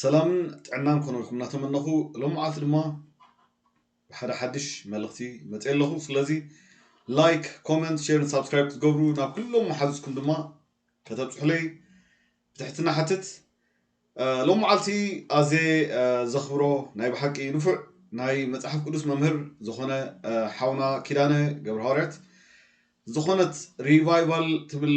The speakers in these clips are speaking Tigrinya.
ሰላምን ጥዕናን ክኾነልኩም እናተመነኹ ሎምዓልቲ ድማ ብሓደ ሓድሽ መልእኽቲ መፀ ኣለኹ ስለዚ ላይክ ኮመንት ሼርን ሳብስክራይብ ክትገብሩ ናብ ኩሎም መሓዙትኩም ድማ ከተብፅሑለይ ብትሕትና ሓትት ሎም መዓልቲ ኣዘ ዘኽብሮ ናይ ብሓቂ ንፉዕ ናይ መፅሓፍ ቅዱስ መምህር ዝኾነ ሓውና ኪዳነ ገብረ ሃዋርያት ዝኾነት ሪቫይቫል ትብል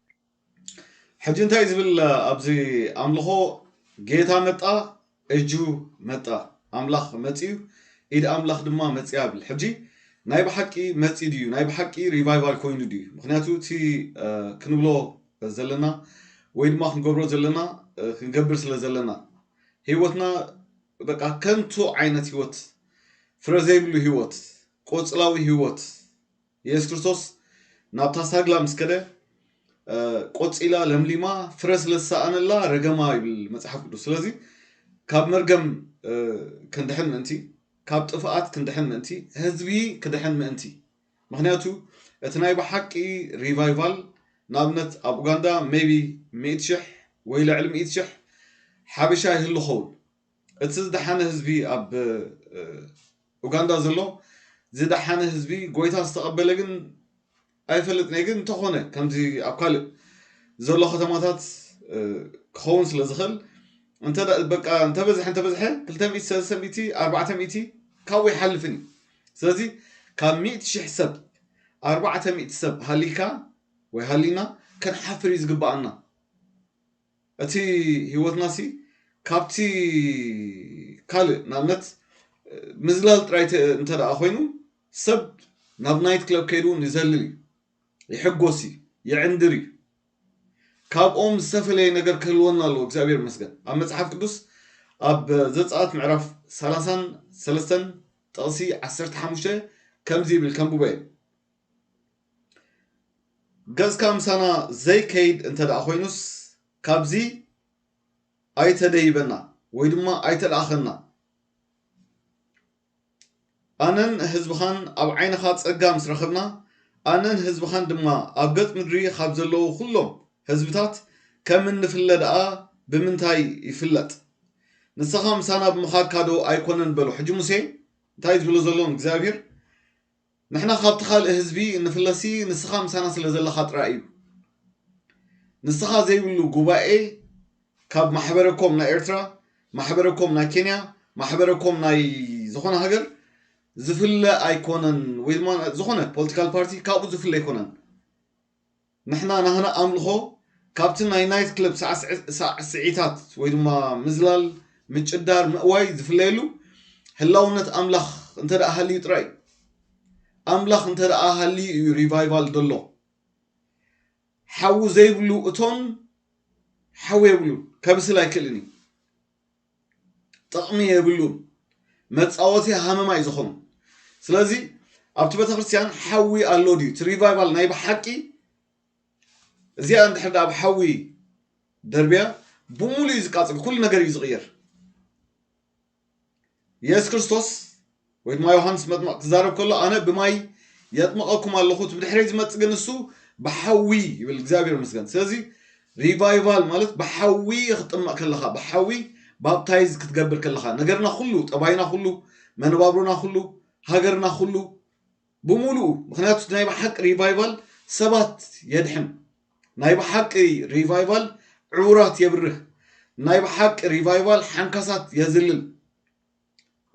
ሕጂ እንታይ ዝብል ኣብዚ ኣምልኾ ጌታ መጣ እጁ መጣ ኣምላኽ መጺኡ ኢድ ኣምላኽ ድማ መጺኣ ብል ሕጂ ናይ ብሓቂ መጺ ድዩ ናይ ብሓቂ ሪቫይቫል ኮይኑ ድዩ ምክንያቱ እቲ ክንብሎ ዘለና ወይ ድማ ክንገብሮ ዘለና ክንገብር ስለ ዘለና ህይወትና በቃ ከንቱ ዓይነት ህይወት ፍረ ዘይብሉ ህይወት ቆፅላዊ ህይወት የሱስ ክርስቶስ ናብታ ሳግላ ምስ ከደ ቆጺላ ለምሊማ ፍረ ስለ ዝሰኣነላ ረገማ ይብል መጽሓፍ ቅዱስ። ስለዚ ካብ መርገም ክንድሕን ምእንቲ ካብ ጥፍኣት ክንድሕን ምእንቲ ህዝቢ ክድሕን ምእንቲ ምክንያቱ እቲ ናይ ብሓቂ ሪቫይቫል ንኣብነት ኣብ ኡጋንዳ ሜቢ ሚእቲ ሽሕ ወይ ልዕሊ ሚእቲ ሽሕ ሓበሻ ይህሉ ኸውን እቲ ዝደሓነ ህዝቢ ኣብ ኡጋንዳ ዘሎ ዝደሓነ ህዝቢ ጎይታ ዝተቐበለ ግን ኣይፈልጥንየ ግን እንተኾነ ከምዚ ኣብ ካልእ ዘሎ ከተማታት ክኸውን ስለ ዝኽእል እንተ በቃ እንተበዝሐ እንተበዝሐ ክልተ ሚእቲ ሰለስተ ሚእቲ ኣርባዕተ ሚእቲ ካብኡ ይሓልፍን እዩ ስለዚ ካብ ሚእቲ ሽሕ ሰብ ኣርባዕተ ሚእቲ ሰብ ሃሊካ ወይ ሃሊና ክንሓፍር እዩ ዝግባኣና እቲ ህይወትናሲ ካብቲ ካልእ ንኣብነት ምዝላል ጥራይ እንተ ደኣ ኮይኑ ሰብ ናብ ናይት ክለብ ከይዱ እውን ይዘልል እዩ፣ ይሕጎስ እዩ፣ ይዕንድር እዩ። ካብኦም ዝተፈለየ ነገር ክህልወና ኣለዎ እግዚኣብሔር ይመስገን። ኣብ መጽሓፍ ቅዱስ ኣብ ዘጸኣት ምዕራፍ ሰላሳን ሰለስተን ጥቕሲ ዓሰርተ ሓሙሽተ ከምዚ ይብል ከንብቦ እየ። ገጽካ ምሳና ዘይከይድ እንተደኣ ኮይኑስ ካብዚ ኣይተደይበና ወይ ድማ ኣይተልኣኸና። ኣነን ህዝብኻን ኣብ ዓይንኻ ጸጋ ምስ ረኸብና፣ ኣነን ህዝብኻን ድማ ኣብ ገጽ ምድሪ ካብ ዘለዉ ኩሎም ህዝብታት ከም እንፍለ ደኣ ብምንታይ ይፍለጥ? ንሰኻ ምሳና ብምኻድካዶ ኣይኮነን በሎ። ሕጂ ሙሴ እንታይ እዩ ዝብሎ ዘሎ ንእግዚኣብሄር? ንሕና ካብቲ ካልእ ህዝቢ እንፍለሲ ንስኻ ምሳና ስለ ዘለኻ ጥራይ እዩ። ንስኻ ዘይብሉ ጉባኤ ካብ ማሕበረ ኮም ናይ ኤርትራ፣ ማሕበረ ኮም ናይ ኬንያ፣ ማሕበረ ኮም ናይ ዝኾነ ሃገር ዝፍለ ኣይኮነን ወይ ድማ ዝኾነ ፖለቲካል ፓርቲ ካብኡ ዝፍለ ኣይኮነን። ንሕና ናህና ኣምልኾ ካብቲ ናይ ናይት ክለብ ሳዕስዒታት ወይ ድማ ምዝላል፣ ምጭዳር፣ ምእዋይ ዝፍለየሉ ህላውነት ኣምላኽ እንተደኣ ሃልዩ ጥራይ እዩ። ኣምላኽ እንተደኣ ሃልዩ እዩ ሪቫይቫል ዘሎ። ሓዊ ዘይብሉ እቶን ሓዊ የብሉን፣ ከብስል ኣይክእልን እዩ። ጥቅሚ የብሉን መጻወቲ ሃመማ እዩ ዝኮኑ ስለዚ ኣብቲ ቤተክርስትያን ሓዊ ኣሎ ድዩ እቲ ሪቫይቫል ናይ ብሓቂ እዚኣ እንድሕር ዳኣ ብ ሓዊ ደርብያ ብምሉእ እዩ ዝቃጽል ኩሉ ነገር እዩ ዝቕየር የሱስ ክርስቶስ ወይ ድማ ዮሃንስ መጥምቕ ክዛረብ ከሎ ኣነ ብማይ የጥምቐኩም ኣለኹ እቲ ብድሕረይ ዝመጽእ ግን እሱ ብሓዊ ይብል እግዚኣብሔር ምስገን ስለዚ ሪቫይቫል ማለት ብሓዊ ክጥመቕ ከለኻ ብሓዊ ባፕታይዝ ክትገብር ከለኻ ነገርና ኩሉ ጠባይና ኩሉ መነባብሮና ኩሉ ሃገርና ኩሉ ብምሉኡ ምክንያቱ ናይ ብሓቂ ሪቫይቫል ሰባት የድሕን ናይ ብሓቂ ሪቫይቫል ዕውራት የብርህ ናይ ብሓቂ ሪቫይቫል ሓንካሳት የዝልል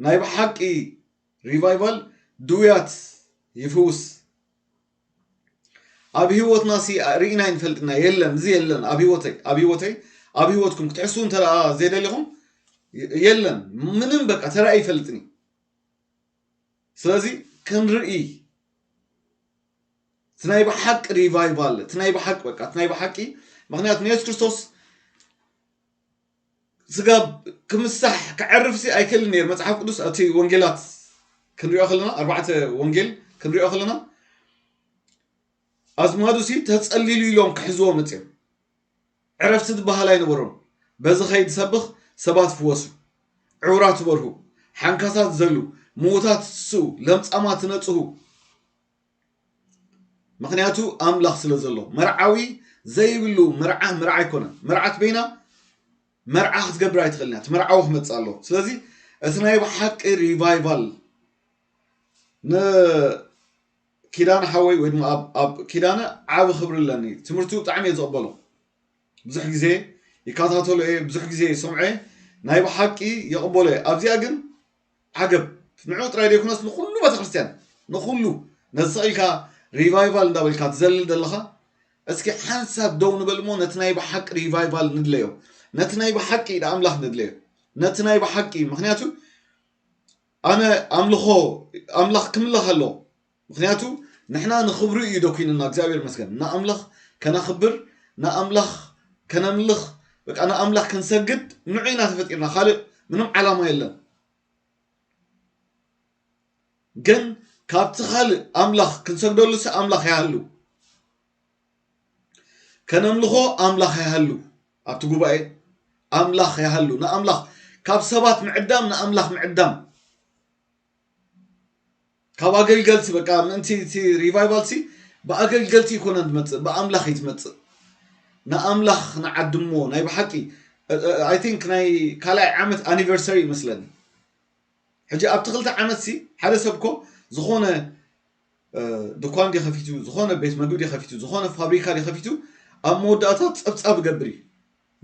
ናይ ብሓቂ ሪቫይቫል ድውያት ይፍውስ ኣብ ሂወትና ሲ ርኢና ይንፈልጥና የለን እዚ የለን ኣብ ሂወተይ ኣብ ሂወተይ ኣብ ሂወትኩም ክትሕስቡ እንተ ዘይደሊኹም የለን ምንም በቃ ተራእዩ ይፈልጥኒ ስለዚ ክንርኢ እቲ ናይ ብሓቂ ሪቫይቫል እቲ ናይ ብሓቂ በቃ እቲ ናይ ብሓቂ ምክንያቱ ንየሱስ ክርስቶስ ስጋብ ክምሳሕ ከዕርፍሲ ኣይክእልን ነይሩ መጽሓፍ ቅዱስ ኣብቲ ወንጌላት ክንሪኦ ከለና ኣርባዕተ ወንጌል ክንሪኦ ከለና ኣዝማዱሲ ተጸሊሉ ኢሎም ክሕዝዎ መጽኦም ዕረፍቲ ዝበሃል ኣይነበሮም በዚ ከይድ ሰብኽ ሰባት ፍወሱ ዕውራት በርሁ ሓንካሳት ዘሉ ምዉታት ትስኡ ለምጻማት ነጽሁ ምኽንያቱ ኣምላኽ ስለ ዘሎ። መርዓዊ ዘይብሉ መርዓ መርዓ ኣይኮነን። መርዓት በይና መርዓ ክትገብር ኣይትኽእልን እያ። እቲ መርዓዊ ክመጽእ ኣለዎ። ስለዚ እቲ ናይ ብሓቂ ሪቫይቫል ንኪዳነ ሓወይ ወይ ድማ ኣብ- ኣብ ኪዳነ ዓቢ ክብሪ ኣለኒ። ትምህርቱ ብጣዕሚ እየ ዝቕበሎ። ብዙሕ ግዜ ይከታተሎ እየ፣ ብዙሕ ግዜ ይሰምዖ እየ። ናይ ብሓቂ የቕበሎ እየ። ኣብዚኣ ግን ዓገብ ንዕኡ ጥራይ ዘይኮነስ ንኹሉ ቤተክርስትያን ንኹሉ ነዚ ስቕ ኢልካ ሪቫይቫል እንዳበልካ ትዘልል ዘለኻ እስኪ ሓንሳብ ደው ንበል እሞ ነቲ ናይ ብሓቂ ሪቫይቫል ንድለዮ ነቲ ናይ ብሓቂ ኢድ ኣምላኽ ንድለዮ ነቲ ናይ ብሓቂ ምክንያቱ ኣነ ኣምልኾ ኣምላኽ ክምለኽ ኣለዎ ምኽንያቱ ንሕና ንኽብሩ እዩ ደኲኑና እግዚኣብሔር ይመስገን ንኣምላኽ ከነኽብር ንኣምላኽ ከነምልኽ በቃ ንኣምላኽ ክንሰግድ ንዑ ኢና ተፈጢርና ካልእ ምንም ዓላማ የለን ግን ካብቲ ካልእ ኣምላኽ ክንሰግደሉ ሲ ኣምላኽ ይሃሉ ከነምልኾ ኣምላኽ ይሃሉ ኣብቲ ጉባኤ ኣምላኽ ይሃሉ ንኣምላኽ ካብ ሰባት ምዕዳም ንኣምላኽ ምዕዳም ካብ ኣገልገልቲ በቃ ምእንቲ እቲ ሪቫይቫልሲ ብኣገልገልቲ ይኮነ ትመፅእ ብኣምላኽ እዩ ትመፅእ ንኣምላኽ ንዓድሞ ናይ ብሓቂ ኣይ ቲንክ ናይ ካልኣይ ዓመት ኣኒቨርሰሪ ይመስለኒ ሕጂ ኣብቲ ክልተ ዓመት ሲ ሓደ ሰብ ኮ ዝኾነ ድኳን ድዩ ከፊቱ ዝኾነ ቤት መግቢ ድዩ ከፊቱ ዝኾነ ፋብሪካ ድዩ ከፊቱ ኣብ መወዳእታ ፀብፃብ ገብር እዩ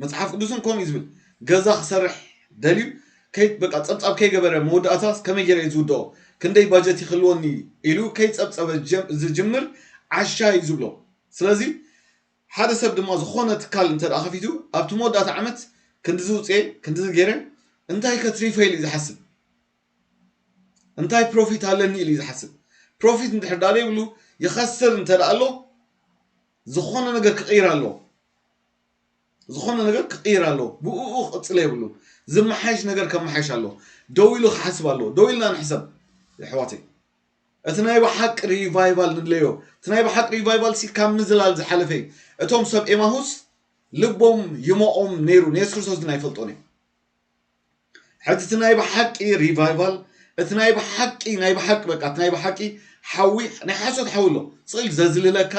መፅሓፍ ቅዱስን ከምኡ እዩ ዝብል ገዛ ክሰርሕ ደልዩ በቃ ፀብፃብ ከይገበረ መወዳእታ ከመይ ገይረ እዩ ዝውድኦ ክንደይ ባጀት ይክልወኒ ኢሉ ከይፀብፀበ ዝጅምር ዓሻ እዩ ዝብሎ ስለዚ ሓደ ሰብ ድማ ዝኾነ ትካል እንተ ከፊቱ ኣብቲ መወዳእታ ዓመት ክንዲ ዝውፅኤ ክንዲ ዝገይረ እንታይ ከትሪፈ ኢሉ እዩ ዝሓስብ እንታይ ፕሮፊት ኣለኒ ኢሉ እዩ ዝሓስብ ፕሮፊት እንድሕር ዳኣ ዘይብሉ ይኸስር እንተ ዳኣ ኣሎ ዝኾነ ነገር ክቕይር ኣለዎ ዝኾነ ነገር ክቕይር ኣለዎ ብእኡ ክቕፅለ የብሉን ዝመሓየሽ ነገር ከመሓየሽ ኣለዎ ደው ኢሉ ክሓስብ ኣለዎ ደው ኢልና ንሕሰብ የሕዋተይ እቲ ናይ ብሓቂ ሪቫይቫል ንድለዮ እቲ ናይ ብሓቂ ሪቫይቫል ሲ ካብ ምዝላል ዝሓለፈ እዩ እቶም ሰብ ኤማሁስ ልቦም ይሞቖም ነይሩ ንየሱስ ክርስቶስ ግን ኣይፈልጦን እዮም ሕቲ እቲ ናይ ብሓቂ ሪቫይቫል እቲ ናይ ብሓቂ ናይ ብሓቂ በቃ እቲ ናይ ብሓቂ ሓዊ ናይ ሓሶት ሓዊ ኣሎ ጽል ዘዝልለካ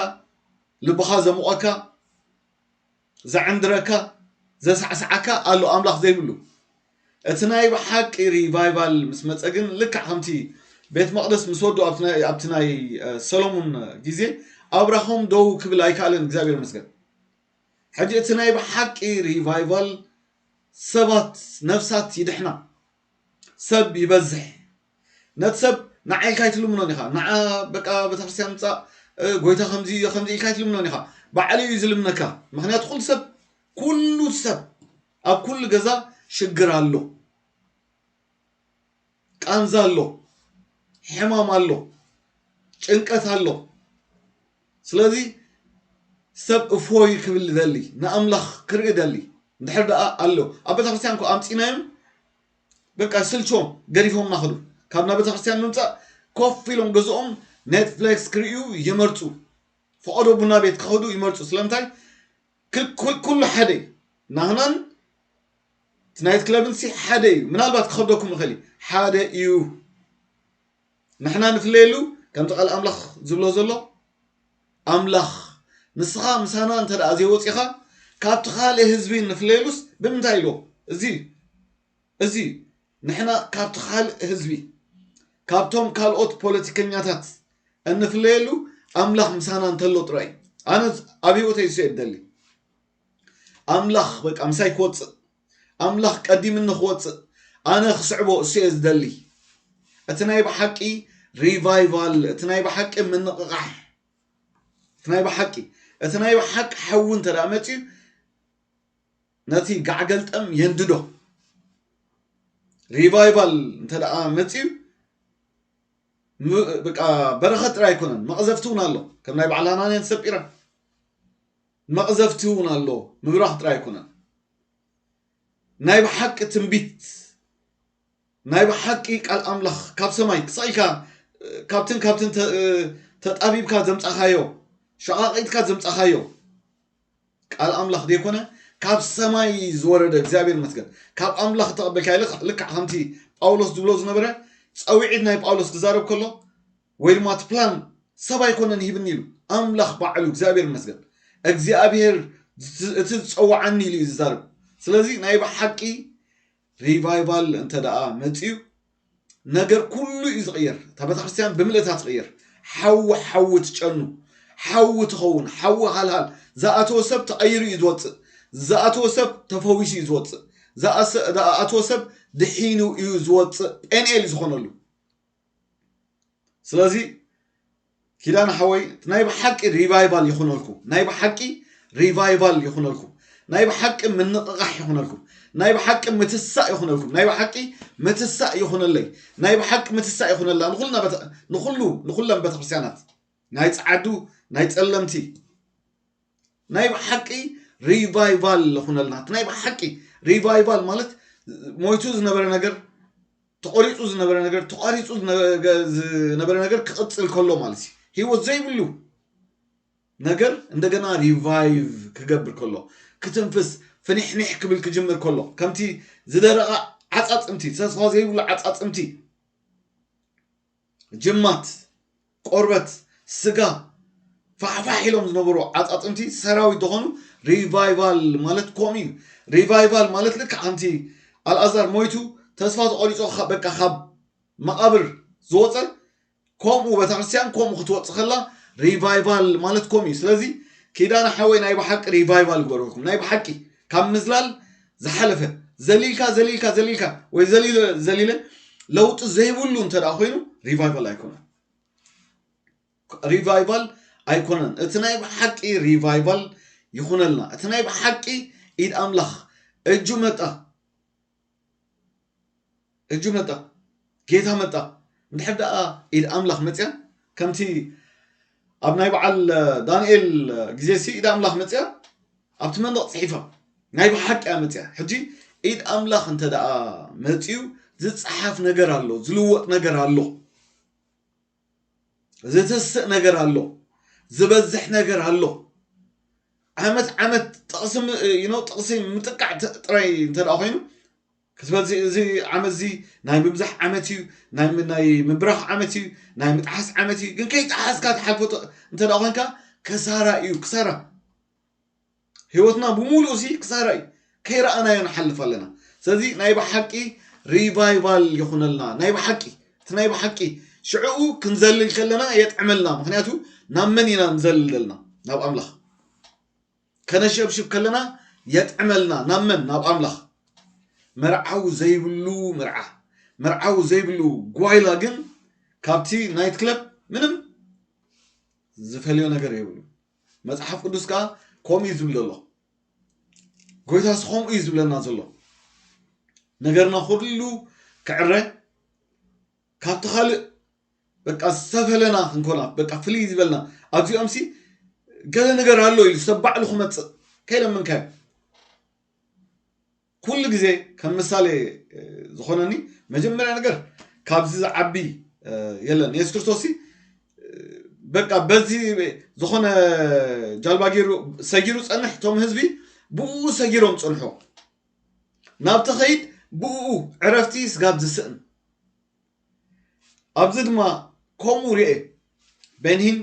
ልብኻ ዘሙቐካ ዘዕንድረካ ዘሳዕሳዓካ ኣሎ ኣምላኽ ዘይብሉ እቲ ናይ ብሓቂ ሪቫይቫል ምስ መፀ ግን ልክዕ ከምቲ ቤት መቅደስ ምስ ወዱ ኣብቲ ናይ ሰሎሙን ግዜ ኣብራኾም ደው ክብል ኣይከኣለን እግዚኣብሔር መስገን ሕጂ እቲ ናይ ብሓቂ ሪቫይቫል ሰባት ነፍሳት ይድሕና ሰብ ይበዝሕ ነቲ ሰብ ንዓ ኢልካ ኣይትልምኖን ኢኻ ንዓ በቃ ቤተክርስትያን ምፃእ ጎይታ ከምዚ እዮ ከምዚ ኢልካ ኣይትልምኖን ኢኻ ባዕሉ እዩ ዝልምነካ ምክንያቱ ኩሉ ሰብ ኩሉ ሰብ ኣብ ኩሉ ገዛ ሽግር ኣሎ ቃንዛ ኣሎ፣ ሕማም ኣሎ፣ ጭንቀት ኣሎ። ስለዚ ሰብ እፎይ ክብል ይደሊ፣ ንኣምላኽ ክርኢ ይደሊ። እንድሕር ደኣ ኣሎ ኣብ ቤተክርስትያን እኮ ኣምጺናዮም በቃ ስልችዎም ገዲፎምና ከዱ። ካብ ናብ ቤተክርስትያን ምምጻእ ኮፍ ኢሎም ገዝኦም ኔትፍሌክስ ክርእዩ ይመርጹ። ፈቐዶ ቡና ቤት ክኸዱ ይመርጹ። ስለምንታይ? ክክ ኩሉ ሓደ እዩ ናህናን እቲ ናይት ክለብን ሲ ሓደ እዩ ምናልባት ክኸብደኩም ይኽእል እዩ ሓደ እዩ ንሕና ንፍለየሉ ከምቲ ቃል ኣምላኽ ዝብሎ ዘሎ ኣምላኽ ንስኻ ምሳና እንተ ደኣ ዘይወፂኻ ካብቲ ካልእ ህዝቢ ንፍለየሉስ ብምንታይ ኢልዎ እዚ እዩ እዚ እዩ ንሕና ካብቲ ካልእ ህዝቢ ካብቶም ካልኦት ፖለቲከኛታት እንፍለየሉ ኣምላኽ ምሳና እንተሎ ጥራይ እዩ ኣነ ኣብ ህይወተይ እሱ እየ ደሊ ኣምላኽ በቃ ምሳይ ክወፅእ ኣምላኽ ቀዲምኒ ክወፅእ ኣነ ክስዕቦ እሱ እየ ዝደሊ እቲ ናይ ብሓቂ ሪቫይቫል እቲ ናይ ብሓቂ ምንቕቓሕ እቲ ናይ ብሓቂ እቲ ናይ ብሓቂ ሓዊ እንተ መፅዩ ነቲ ጋዕገልጠም የንድዶ። ሪቫይቫል እንተ ደኣ መጺኡ በረኸት ጥራይ ኣይኮነን መቕዘፍቲ እውን ኣሎ ከም ናይ በዓል ሃናንያን ሰጲራን መቕዘፍቲ እውን ኣሎ ምብራኽ ጥራይ ኣይኮነን ናይ ብሓቂ ትንቢት ናይ ብሓቂ ቃል ኣምላኽ ካብ ሰማይ ክሳብ ኢልካ ካብትን ካብትን ተጣቢብካ ዘምጻኻዮ ሸቓቒጥካ ዘምጻኻዮ ቃል ኣምላኽ ዘይኮነ ካብ ሰማይ ዝወረደ እግዚኣብሔር ይመስገን ካብ ኣምላኽ እተቐበልካዮ ልክዕ ልክዕ ከምቲ ጳውሎስ ዝብሎ ዝነበረ ጸዊዒት ናይ ጳውሎስ ክዛረብ ከሎ ወይ ድማ እቲ ፕላን ሰብ ኣይኮነን ሂብኒ ኢሉ ኣምላኽ ባዕሉ እግዚኣብሔር ይመስገን እግዚኣብሔር እቲ ዝጸውዓኒ ኢሉ እዩ ዝዛረብ ስለዚ ናይ ብሓቂ ሪቫይቫል እንተ ደኣ መጺኡ ነገር ኩሉ እዩ ዝቕየር እታ ቤተክርስትያን ብምልእታ ትቕየር ሓዊ ሓዊ ትጨኑ ሓዊ ትኸውን ሓዊ ሃልሃል ዝኣተወ ሰብ ተቐይሩ እዩ ዝወፅእ ዝኣተወ ሰብ ተፈዊሱ እዩ ዝወፅእ ዝኣተወ ሰብ ድሒኑ እዩ ዝወፅእ ጴንኤል እዩ ዝኾነሉ ስለዚ ኪዳነ ሓወይ ናይ ብሓቂ ሪቫይቫል ይኹነልኩም ናይ ብሓቂ ሪቫይቫል ይኹነልኩም ናይ ብሓቂ ምንቕቓሕ ይኹነልኩም ናይ ብሓቂ ምትሳእ ይኹነልኩም ናይ ብሓቂ ምትሳእ ይኹነለይ ናይ ብሓቂ ምትሳእ ይኹነላ ንኹልና ንኹሉ ንኹለን ቤተክርስትያናት ናይ ጸዓዱ ናይ ጸለምቲ ናይ ብሓቂ ሪቫይቫል ልኹነልና እቲ ናይ ብሓቂ ሪቫይቫል ማለት ሞይቱ ዝነበረ ነገር ተቆሪፁ ዝነበረ ነገር ተቋሪፁ ዝነበረ ነገር ክቕፅል ከሎ ማለት እዩ ህይወት ዘይብሉ ነገር እንደገና ሪቫይቭ ክገብር ከሎ ክትንፍስ ፍኒሕኒሕ ክብል ክጅምር ከሎ ከምቲ ዝደረቐ ዓፃፅምቲ ተስፋ ዘይብሉ ዓፃፅምቲ ጅማት ቆርበት፣ ስጋ፣ ፋሕፋሕ ኢሎም ዝነበሩ ዓጻጽምቲ ሰራዊት ዶኾኑ ሪቫይቫል ማለት ኮምኡ እዩ ሪቫይቫል ማለት ልክዕ ከምቲ ኣልኣዛር ሞይቱ ተስፋ ተቆሪጾ በቃ ካብ መቃብር ዝወጸ ኮምኡ በተክርስትያን ኮምኡ ክትወጽ ከላ ሪቫይቫል ማለት ኮምኡ እዩ ስለዚ ኪዳነ ሓወይ ናይ ብሓቂ ሪቫይቫል ግበረልኩም ናይ ብሓቂ ካብ ምዝላል ዝሓለፈ ዘሊልካ ዘሊልካ ዘሊልካ ወይ ዘሊለ ዘሊለ ለውጢ ዘይብሉ እንተ ኮይኑ ሪቫይቫል ኣይኮነን ሪቫይቫል ኣይኮነን እቲ ናይ ብሓቂ ሪቫይቫል ይኹነልና እቲ ናይ ብሓቂ ኢድ ኣምላኽ እጁ መጣ እጁ መጣ ጌታ መጣ እንድሕር ደኣ ኢድ ኣምላኽ መጽያ ከምቲ ኣብ ናይ በዓል ዳንኤል ግዜ ሲ ኢድ ኣምላኽ መጽያ ኣብቲ መንደቕ ጽሒፋ ናይ ብሓቂ እያ መጽያ ሕጂ ኢድ ኣምላኽ እንተ ደኣ መጽዩ ዝጸሓፍ ነገር ኣሎ ዝልወጥ ነገር ኣሎ ዝትስእ ነገር ኣሎ ዝበዝሕ ነገር ኣሎ ዓመት ዓመት ጥቕሲ ዩኖ ጥቕሲ ምጥቃዕ ጥራይ እንተ ኮይኑ ክትበዚ እዚ ዓመት እዚ ናይ ምብዛሕ ዓመት እዩ ናይ ምብራኽ ዓመት እዩ ናይ ምጥሓስ ዓመት እዩ ግን ከይጠሓስካ ትሓልፎ እንተ ኮንካ ከሳራ እዩ ክሳራ ሂወትና ብሙሉኡ ሲ ክሳራ እዩ ከይረኣናዮ ንሓልፍ ኣለና ስለዚ ናይ ብሓቂ ሪቫይቫል ይኹነልና ናይ ብሓቂ እቲ ናይ ብሓቂ ሽዕኡ ክንዘልል ከለና የጥዕመልና ምክንያቱ ናብ መን ኢና ንዘልል ዘለና ናብ ኣምላኽ ከነሸብሽብ ከለና የጥዕመልና ናብ መን ናብ ኣምላኽ መርዓው ዘይብሉ መርዓ መርዓው ዘይብሉ ጓይላ ግን ካብቲ ናይት ክለብ ምንም ዝፈልዮ ነገር የብሉ መጽሓፍ ቅዱስ ከኣ ከምኡ እዩ ዝብል ዘሎ። ጎይታስ ከምኡ እዩ ዝብለና ዘሎ። ነገርና ኩሉ ክዕረ ካብቲ ካልእ በቃ ዝተፈለና ክንኮና በቃ ፍልይ ዝበልና ኣብዚኦም ሲ ገለ ነገር ኣሎ ኢሉ ሰብ ባዕሉ ክመፅእ ከይለምንካዮ ኩሉ ግዜ ከም ምሳሌ ዝኾነኒ መጀመርያ ነገር ካብዚ ዝዓቢ የለን የሱስ ክርስቶስ በቃ በዚ ዝኾነ ጃልባ ገይሩ ሰጊሩ ጸንሕ እቶም ህዝቢ ብኡ ሰጊሮም ጸንሖ ናብ ተኸይድ ብኡ ዕረፍቲ ስጋብ ዝስእን ኣብዚ ድማ ከምኡ ርኤ በንሂን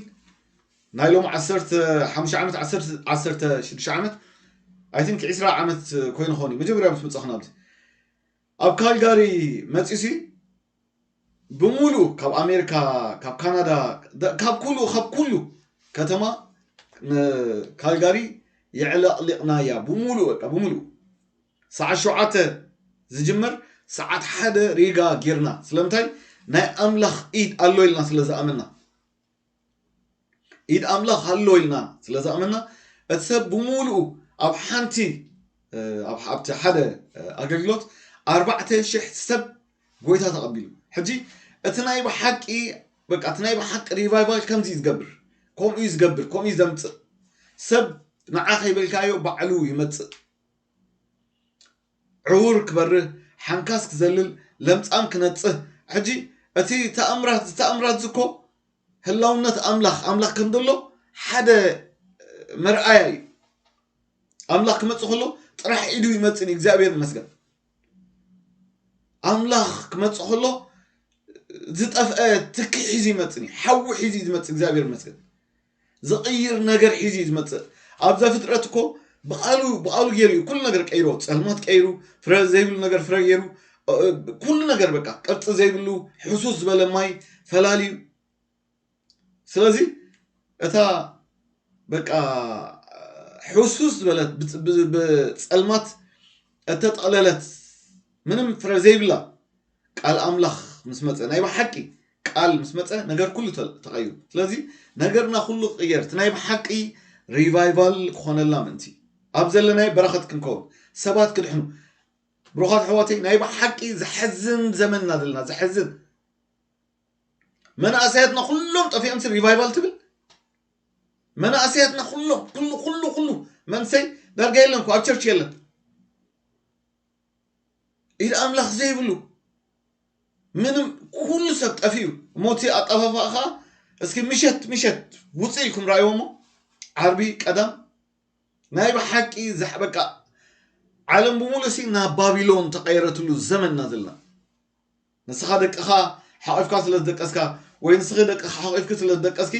ናይ ሎሚ ዓሰርተ ሓሙሽተ ዓመት ዓሰርተ ሽዱሽተ ዓመት ኣይ ቲንክ ዕስራ ዓመት ኮይኑ ኾን እዩ መጀመርያ ምስ መጻኹ ናብዚ ኣብ ካልጋሪ መጺሲ ብምሉኡ ካብ ኣሜሪካ ካብ ካናዳ ካብ ኩሉ ካብ ኩሉ ከተማ ካልጋሪ የዕለቕሊቕናያ ብምሉእ በቃ ብምሉእ ሰዓት ሸውዓተ ዝጅመር ሰዓት ሓደ ሪጋ ጊርና ስለምንታይ ናይ ኣምላኽ ኢድ ኣሎ ኢልና ስለ ዝኣመና ኢድ ኣምላኽ ኣሎ ኢልና ስለ ዝኣመና እቲ ሰብ ብምሉኡ ኣብ ሓንቲ ኣብቲ ሓደ ኣገልግሎት ኣርባዕተ ሽሕ ሰብ ጎይታ ተቐቢሉ ሕጂ እቲ ናይ ብሓቂ በቃ እቲ ናይ ብሓቂ ሪቫይቫል ከምዚ እዩ ዝገብር ከምኡ እዩ ዝገብር ከምኡ እዩ ዘምፅእ ሰብ ንዓ ከይበልካዮ ባዕሉ ይመፅእ ዕዉር ክበርህ፣ ሓንካስ ክዘልል፣ ለምጻም ክነጽህ፣ ሕጂ እቲ ተኣምራት ዝተኣምራት'ዚ እኮ ህላውነት ኣምላኽ፣ ኣምላኽ ከም ዘሎ ሓደ መርኣያ እዩ። ኣምላኽ ክመጽእ ከሎ ጥራሕ ኢዱ ይመጽእ እዩ፣ እግዚኣብሔር ይመስገን። ኣምላኽ ክመጽእ ከሎ ዝጠፍአ ትኪ ሒዙ ይመጽእ እዩ፣ ሓዊ ሒዙ እዩ ዝመጽእ፣ እግዚኣብሔር ይመስገን። ዝቕይር ነገር ሒዙ እዩ ዝመጽእ ኣብ ዘፍጥረት እኮ ብቃሉ ብቃሉ ገይሩ እዩ ኩሉ ነገር ቀይሮ ጸልማት ቀይሩ ፍረ ዘይብሉ ነገር ፍረ ገይሩ ኩሉ ነገር በቃ ቅርፂ ዘይብሉ ሕሱስ ዝበለ ማይ ፈላልዩ ስለዚ እታ በቃ ሕሱስ ዝበለት ብፀልማት እተጠቕለለት ምንም ፍረ ዘይብላ ቃል ኣምላኽ ምስ መጸ ናይ ብሓቂ ቃል ምስ መጸ ነገር ኩሉ ተቀይሩ ስለዚ ነገርና ኩሉ ክቅየር እቲ ናይ ብሓቂ ሪቫይቫል ክኾነልና ምእንቲ ኣብ ዘለናይ በረኸት ክንከውን ሰባት ክድሕኑ ብሩኻት ኣሕዋተይ ናይ ብሓቂ ዘሕዝን ዘመን ኢና ዘለና ዘሕዝን መናእሰያትና ኩሎም ጠፊኦምሲ ሪቫይቫል ትብል መናእሰያትና ኩሎም ኩሉ ኩሉ ኩሉ መንሰይ ዳርጋ የለን ኣብ ቸርች የለን ኢድ ኣምላኽ ዘይብሉ ምንም ኩሉ ሰብ ጠፊኡ እሞ እቲ ኣጠፋፍኣ ከዓ እስኪ ምሸት ምሸት ውፅእ ኢልኩም ራእይዎ እሞ ዓርቢ ቀዳም ናይ ብሓቂ ዛሕ በቃ ዓለም ብምሉእ ሲ ናብ ባቢሎን ተቐይረትሉ ዘመን ኢና ዘለና ንስኻ ደቅኻ ሓቂፍካ ስለ ዝደቀስካ ወይ ንስኺ ደቅኻ ሓቂፍኪ ስለ ዝደቀስኪ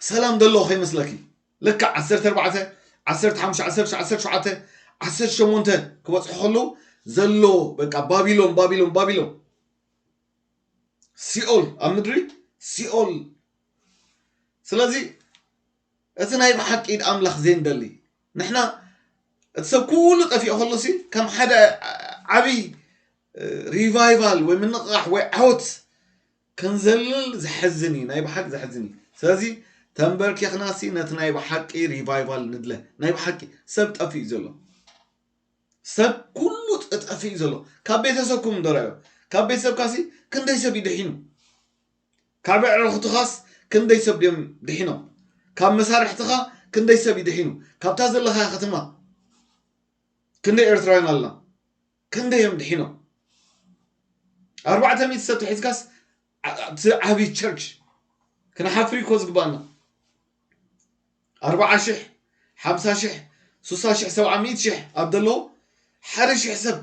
ሰላም ደለዎ ከይመስለኪ ልክዕ ዓሰርተ ኣርባዕተ፣ ዓሰርተ ሓሙሽተ፣ ዓሰርተ ትሽዓተ፣ ዓሰርተ ሸውዓተ፣ ዓሰርተ ሸሞንተ ክበጽሑ ከለዉ ዘሎ በቃ ባቢሎን ባቢሎን ባቢሎን ሲኦል ኣብ ምድሪ ሲኦል ስለዚ እቲ ናይ ብሓቂ ኢድ ኣምላኽ ዘይንደሊ ንሕና እቲ ሰብ ኩሉ ጠፊኦ ከሎሲ ከም ሓደ ዓብይ ሪቫይቫል ወይ ምንቕቓሕ ወይ ዓወት ክንዘልል ዘሕዝን ኢዩ ናይ ብሓቂ ዘሕዝን ኢዩ ስለዚ ተንበርኪኽናሲ ነቲ ናይ ብሓቂ ሪቫይቫል ንድለ ናይ ብሓቂ ሰብ ጠፊኡ ኢዩ ዘሎ ሰብ ኩሉ ጠጠፊ እዩ ዘሎ ካብ ቤተሰብኩም ደራዮ ካብ ቤተሰብካሲ ክንደይ ሰብ እዩ ድሒኑ ካብ ዕረኽትኻስ ክንደይ ሰብ ድዮም ድሒኖም ካብ መሳርሕትኻ ክንደይ ሰብ እዩ ድሒኑ ካብታ ዘለኻያ ከተማ ክንደይ ኤርትራውያን ኣለና ክንደይ እዮም ድሒኖም? ኣርባዕተ ሚእቲ ሰብ ተሒዝካስ ኣብቲ ዓብዪ ቸርች ክንሓፍር እዩ እኮ ዝግባኣና። ኣርብዓ ሽሕ ሓምሳ ሽሕ ሱሳ ሽሕ ሰብዓ ሚእቲ ሽሕ ኣብ ዘለዎ ሓደ ሽሕ ሰብ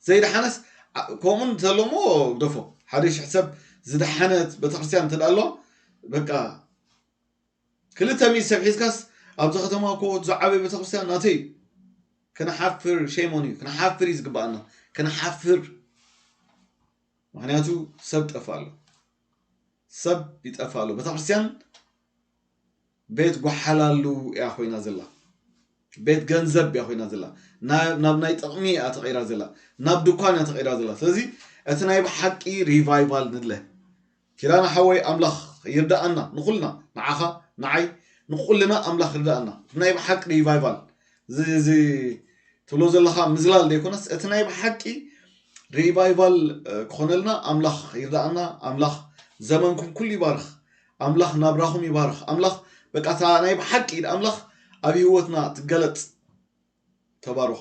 ዘይደሓነስ ዓ- ከምኡ እንተሎ እሞ ግደፎ ሓደ ሽሕ ሰብ ዝደሓነት ቤተክርስትያን እንተደኣ ኣለዋ በቃ ክልተ ሚእቲ ሰብ ሒዝካስ ኣብዛ ከተማ እኮ እቲ ዝዓበየ ቤተክርስትያን ናተይ እዩ ክንሓፍር ሼም ኦን ዩ ክንሓፍር እዩ ዝግበኣና ክንሓፍር ምክንያቱ ሰብ ጠፋ ኣሎ ሰብ ይጠፋ ኣሎ ቤተክርስትያን ቤት ጓሓላሉ እያ ኮይና ዘላ ቤት ገንዘብ እያ ኮይና ዘላ ናብ ናይ ጥቅሚ እያ ተቀይራ ዘላ ናብ ድኳን እያ ተቀይራ ዘላ ስለዚ እቲ ናይ ብሓቂ ሪቫይቫል ንድለ ኪዳነ ሓወይ ኣምላኽ ይርዳኣና ንኩልና ንዓኻ ንዓይ ንኩልና ኣምላኽ ይርዳኣና እቲ ናይ ብሓቂ ሪቫይቫል እዚ ትብሎ ዘለኻ ምዝላል ዘይኮነስ እቲ ናይ ብሓቂ ሪቫይቫል ክኾነልና ኣምላኽ ይርዳኣና ኣምላኽ ዘመንኩም ኩሉ ይባርኽ ኣምላኽ ናብራኹም ይባርኽ ኣምላኽ በቃ እታ ናይ ብሓቂ ኢድ ኣምላኽ ኣብ ህይወትና ትገለጽ ተባረኹ